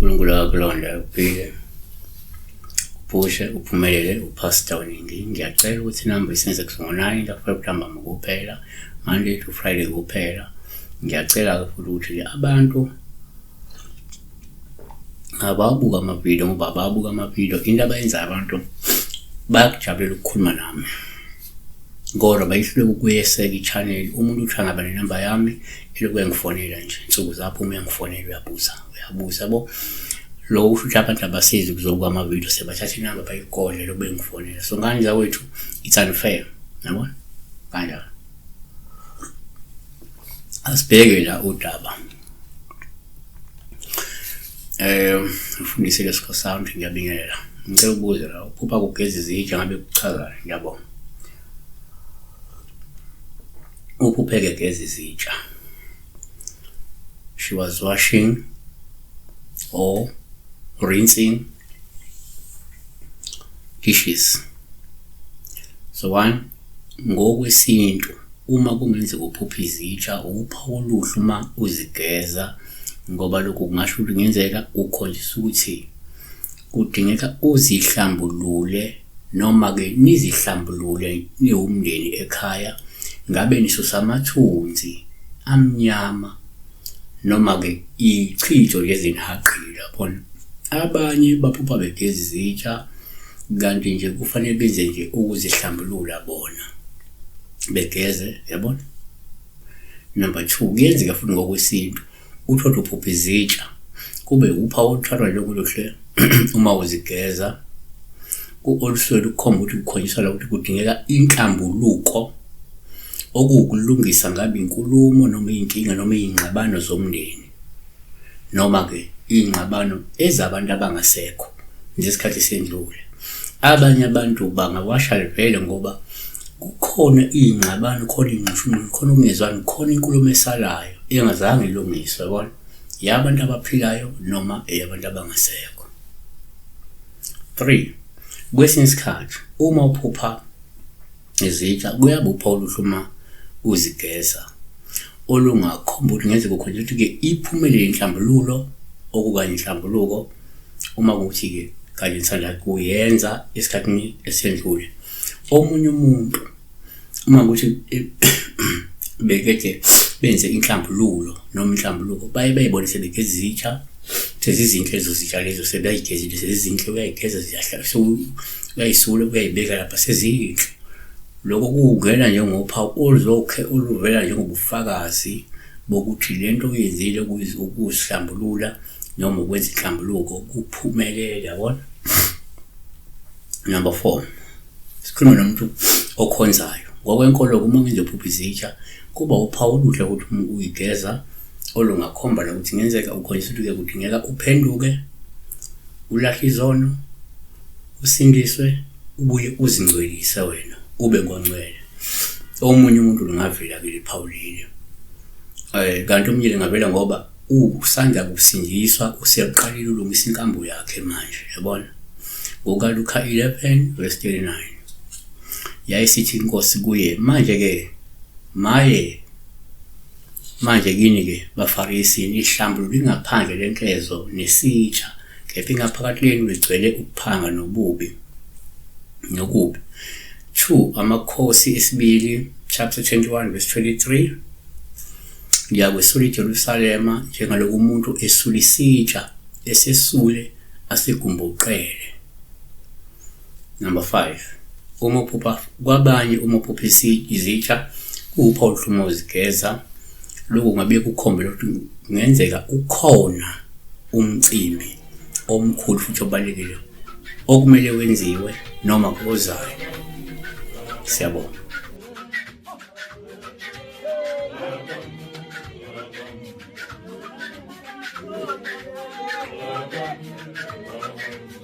uNkulunkulu akulonda uphile uphushe uphumelele uphasta oningi ngiyacela ukuthi inamba isenze kusongonani lapho kuntambama kuphela monday to friday kuphela ngiyacela-ke futhi ukuthi abantu abawabuka amavidiyo ngoba abawabuka amavidiyo into abayenzayo abantu bayakujabulela ukukhuluma nami kodwa bayihluleka ukuyeseka i-channel umuntu uthi angaba nenamba yami eloku uyangifonela nje nsuku zapho uma uyangifonela uyabuza uyabuza bo lo usho ukuthi abantu abasizi kuzobuka amavidiyo sebathatha inamba bayigodle loku bengifonela so ngani zakwethu it's unfair yabona kanjalo asibheke la udaba eh ufundise lesikho sound ngiyabingelela ngicela ukubuza la uphupha kugeza izitsha ngabe kuchazani ngiyabonga ukhupheke gezi zitsha she was washing or rinsing Issues. So one ngokwesintu uma kungenzeka uphupha izitsha upha oluhlu uma uzigeza ngoba lokhu kungasho ukuthi kungenzeka ukholiswa ukuthi kudingeka uzihlambulule Noma-ke nizihlambulule niwumndeni ekhaya, ngabe nisusa amathunzi amnyama, noma-ke ichitho lezinhaqile. Yabona? Abanye baphupha begeza izitsha, kanti nje kufanele benze nje ukuzihlambulula bona, begeze. Yabona? Number two, kuyenzeka futhi ngokwesintu. Uthotho uphupha izitsha, kube wuphawu oluthwalwa njengoluhle uma uzigeza. Olusuke lukhomba ukuthi kukhonyiselwa ukuthi kudingeka inhlambuluko, okuwukulungisa ngabe inkulumo noma iy'nkinga noma iy'ngxabano zomndeni, noma-ke iy'ngxabano ezabantu abangasekho. ngesikhathi sendlule abanye abantu bangawasha livele ngoba kukhona iy'ngxabano khona iy'nxushunxushu khona ukungezwani khona inkulumo esalayo engazange ilungiswe yabona yabantu abaphilayo noma eyabantu abangasekho three kwesinye isikhathi uma uphupha Izitsha kuyabupha oluhlu uma uzigeza olungakhomba ukuthi ngeze kukhonjela ukuthi-ke iphumelele inhlambululo okukanye inhlambuluko uma kuthi-ke kanye nisanda kuyenza esikhathini esendlule omunye umuntu uma kuthi bekethe benze inhlambululo noma inhlambuluko baye bayibone sebegeza izitsha sezizinhle ezo zitsha lezo sebeyayigezile sezizinhle uyayigeza ziyahlala uyayisula uyayibeka lapha seziyinhle lokho kuwungena njengophawu oluzokhe oluvela njengobufakazi bokuthi le nto uyenzile ukuzihlambulula noma ukwenza inhlambuluko kuphumelele yabona number four sikhulume nomuntu okhonzayo ngokwenkolo uma ngizophupha izitsha kuba uphawu oluhle ukuthi uyigeza olungakhomba lokuthi ngenzeka ukhonjisuluke kudingeka uphenduke ulahle izono Usindiswe ubuye uzingcwelise wena ube ngoncwele. Omunye umuntu lungavela ke liphawu leli. Eh kanti omunye lingavela ngoba usanda kusindiswa useqalile ulungisa inkambo yakhe manje yabona. NgokaLuka 11 verse 39. Yayisithi inkosi kuye manje ke maye Manje kini-ke, baFarisi, nihlambulula ingaphandle lenkezo nesitsha, kepha ingaphakathi lenu ligcwele ukuphanga nobubi, nokubi. 2 Amakhosi esibili, chapter 21 verse 23 Ngiyakwesula iJerusalema njengaloku umuntu esula isitsha esesule asegumbuqele. Number 5. Uma uphupha kwabanye uma uphupha izitsha kuwuphawu oluhluma uzigeza lokhu ngabe kukhombela ukuthi kungenzeka ukhona umcimbi omkhulu futhi obalulekile okumele wenziwe noma ozayo siyabonga